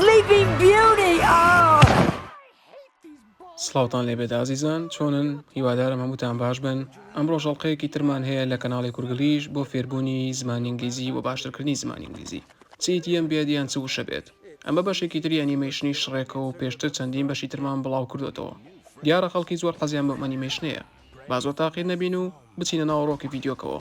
Sleeping Beauty Aww. سڵاوتان لێبێت ئازیزان چۆنن هیوادارم هەمووتان باش بن ئەمڕۆ ژەڵقەیەکی ترمان هەیە لە کەناڵی کورگلیش بۆ فێربوونی زمانی ئینگلیزی و باشترکردنی زمانی ئینگلیزی چیتی ئەم بێت یان چ وشە بێت ئەمە بەشێکی تری ئەنیمەیشنی شڕێکە و پێشتر چەندین بەشی ترمان بڵاو کردوێتەوە دیارە خەڵکی زۆر حەزیان بەم ئەنیمەیشنەیە با زۆر تاقیر نەبین و بچینە ناوەڕۆکی ڤیددیوکەوە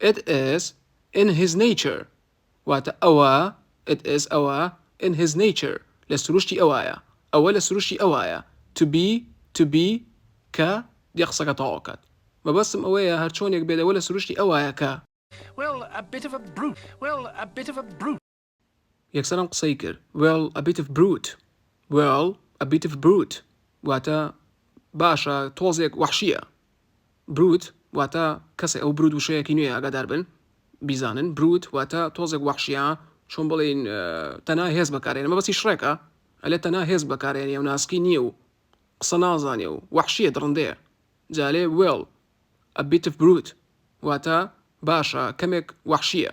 It is in his nature واتە ئەوە It is ئەوە in his nature لە سروشتی ئەوایە ئەوە لە سروشتی ئەوایە to be to be کە دێ قسەکە تەواو ئەکات مەبەستم ئەوەیە هەرچۆنێک بێت ئەوە لە سروشتی ئەوایە کە Well a bit of a brute Well a bit of a brute یەکسەر ئەم قسەی کرد well a bit of brute well a bit of brute واتە باشە تۆزێک وحشیە بروت واتە کەسێ ئەو برود وشەیەکی نوێ ئاگادار بن بیزانن بروت واتە تۆزێک وحشیە چۆن بڵین تەنا هێز بەکارێن مە بەسی شڕێکە ئەلێ تەنا هێز بەکارێنی و ناسکی نییە و قسە نازانێ و وحشیە دڕندەیە جالێ وێڵ ئە بیتف بروت واتە باشە کەمێک وحشیە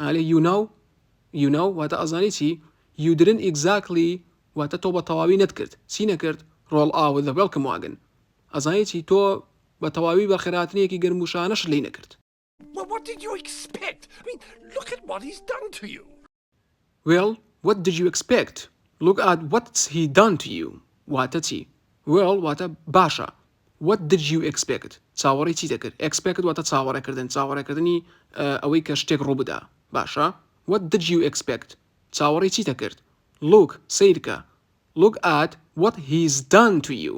ئالێ یو ناو یو ناو واتە ئەزانی چی یو دیدنت ئیکزاکلی واتە تۆ بە تەواوی نەتکرد چی نەکرد ڕۆڵ ئاوت ذە وێڵکم واگن ئەزانی چی تۆ بە تەواوی بەخێرهاتنێکی گەرموشانەشت لێی نەکرد. Well what did you expect I mean look at what he's done to you. وێڵ وەت دد یو ئێکسپێکت لوک ئەت وەتس هی دان تو یو واتە چی؟ وێڵ واتە باشە وەت دد یو ئێکسپێکت چاوەڕێی چی دەکرد ئێکسپێکت واتە چاوەڕێکردن چاوەڕێکردنی ئەوەی کە شتێک ڕووبدا باشە وەت دد یو ئێکسپێکت چاوەڕێی چی دەکرد لوک سەیرکە لوک ئەت وەت هیز دان تو یو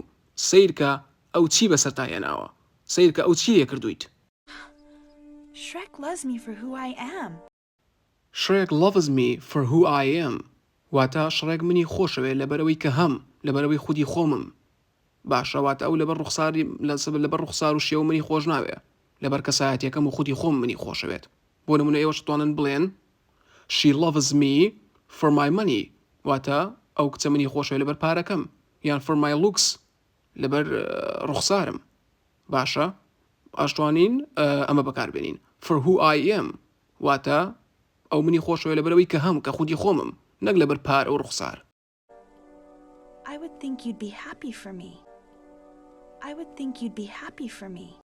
سەیرکە ئەو چی بەسەرتا هێناوە سەیرکە ئەو چی لێکردوویت. شرێک لەز می فۆر هو ئای ئەم. Shrek loves me for who I am واتە شڕێک منی خۆشەوێ لەبەرئەوەی کە هەم، لەبەرئەوەی خودی خۆمم. باشە واتە ئەو لەبەر ڕوخسار لەبەر ڕوخسار و شێوە منی خۆش ناوێ، لەبەر کەسایەتیەکەم و خودی خۆمم منی خۆشەوێت. بۆ نمونە ئێوەش ئەتوانن بڵێن She loves me for my money واتە ئەو کچە منی خۆشەوێ لەبەر پارەکەم یان for my looks لەبەر ڕوخسارم باشە ئاشتوانین ئەمە بەکاربێنین for who I am واتە ئەو منی خۆشەوە لەبەرەوەی کە هەم کە خودی خۆمم نەک لەبەر پارە و ڕوخسار I would think you'd be happy for me I would think you'd be happy for me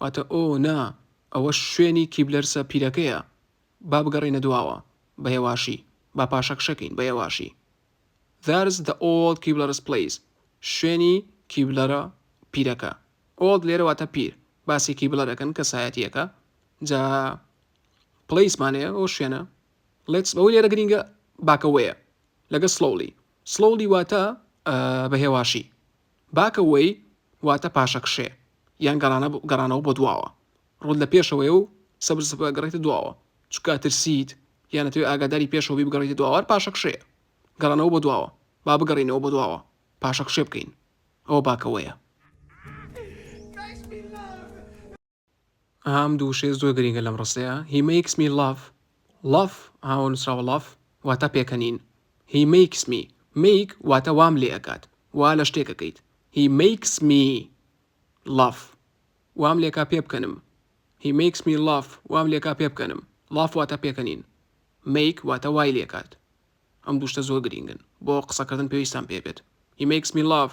واتە، ئۆ، نا، ئەوە شوێنی کیبلەرسە پیرەکەیە، با بگەڕێینە دواوە، بە هێواشی، با پاشەکشەکەین، بە هێواشی. That's the old Keebler's place شوێنی کیبلەرە پیرەکە. Old لێرە واتە پیر، باسی کیبلەر ئەکەن، کەسایەتییەکە، جا پلیس مانەیە ئەو شوێنە Let's بەوەی لێرە گرینگە باکە وەیە لەگە سڵۆلی سڵۆلی واتە بە هێواشی باکە وەی واتە پاشەکشێ یان گەڕانە گەڕانەوە بۆ دواوە ڕوود لە پێشەوەی و سەبز گەڕێتە دواوە چکە ترسیت یانە توێ ئاگاداری پێشەوەی بگەڕێتە دواوار پاشەکشێ گەڕانەوە بۆ دواوە با بگەڕینەوە بۆ دواوە پاشەکشێ بکەین ئەوە باکەوەیە ئەها ئەم دوو وشەیە زۆر گرینگە لەم ڕستەیە هی مەیکس می لاڤ ڵاف هاوە نووسراوە ڵاف واتە پێکەنین هی مەیکس می مەیک واتە وام لێ ئەکات وا لە شتێکەکەیت هی مەیکس می لاف وام لێکا پێ بکەنم هی مەیکس می لاف وام لێکا پێ بکەنم ڵاف واتە پێکەنین مەیک واتە وای لێکات ئەم دوشتە زۆر گرینگن بۆ قسەکردن پێویستان پێ بێت هی مەیکس می لاف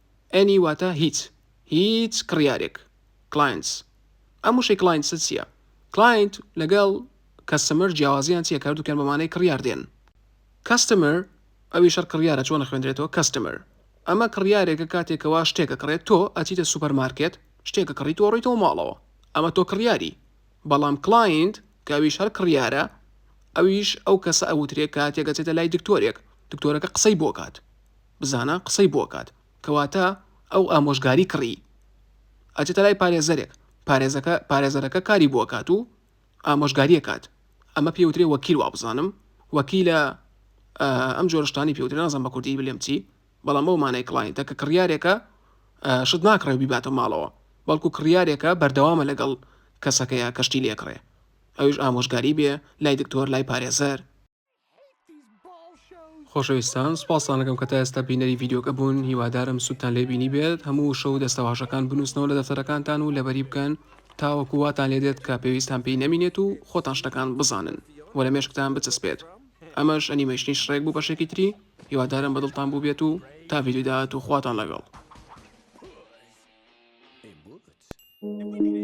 Any واتە هیچ هیچ کڕیارێک Clients ئەم وشەی Clients چیە؟ Client لەگەڵ Customer جیاوازیان چیە کە هەردووکیان بە مانای کڕیار دێن Customer ئەوی شەر کڕیارە چۆن ئەخوێندرێتەوە Customer ئەمە کڕیارێکە کاتێک کە وا شتێک ئەکڕێت تۆ ئەچیتە سوپەر مارکێت شتێک ئەکڕیت و ئەڕۆیتەوە ماڵەوە ئەمە تۆ کڕیاری بەڵام Client کە ئەویش هەر کڕیارە ئەویش ئەو کەسە ئەوترێ کاتێک ئەچێتە لای دکتۆرێک دکتۆرەکە قسەی بۆ کات بزانە قسەی بۆ ئەکات کەواتە ئەو ئامۆژگاری کڕی ئەچێتە لای پارێزەرێک پارێزەکە پارێزەرەکە کاری بۆ ئەکات و ئامۆژگاری ئەکات ئەمە پێی وترێ وەکیل وابزانم وەکیلە ئەم جۆرە شتانی پێ وترێ نازانم بە کوردی بلێم چی بەڵام ئەو مانای کڵاینتە کە کڕیارێکە شت ناکڕێ بیباتە ماڵەوە بەڵکو کڕیارێکە بەردەوامە لەگەڵ کەسەکەیە کە شتی لێکڕێ ئەویش ئامۆژگاری بێ لای دکتۆر لای پارێزەر خۆشەویستان سوپاستان دەکەم کە تا ئێستا بینەری ڤیددیوکە بوون هیوادارم سوودتان لێ بینی بێت هەموو شەو دەستەواژەکان بنووسنەوە لە دەفتەرەکانتان و لەبەری بکەن تاوەکو واتان لێ دێت کە پێویستان پێی نەمینێت و خۆتان شتەکان بزانن و لە مێشکتان بچەسپێت ئەمەش ئەنیمەشنی شڕێک بوو بەشێکی تری هیوادارم بەدڵتان بوو بێت و تا ڤیددیو داهات و خواتان لەگەڵ Thank you.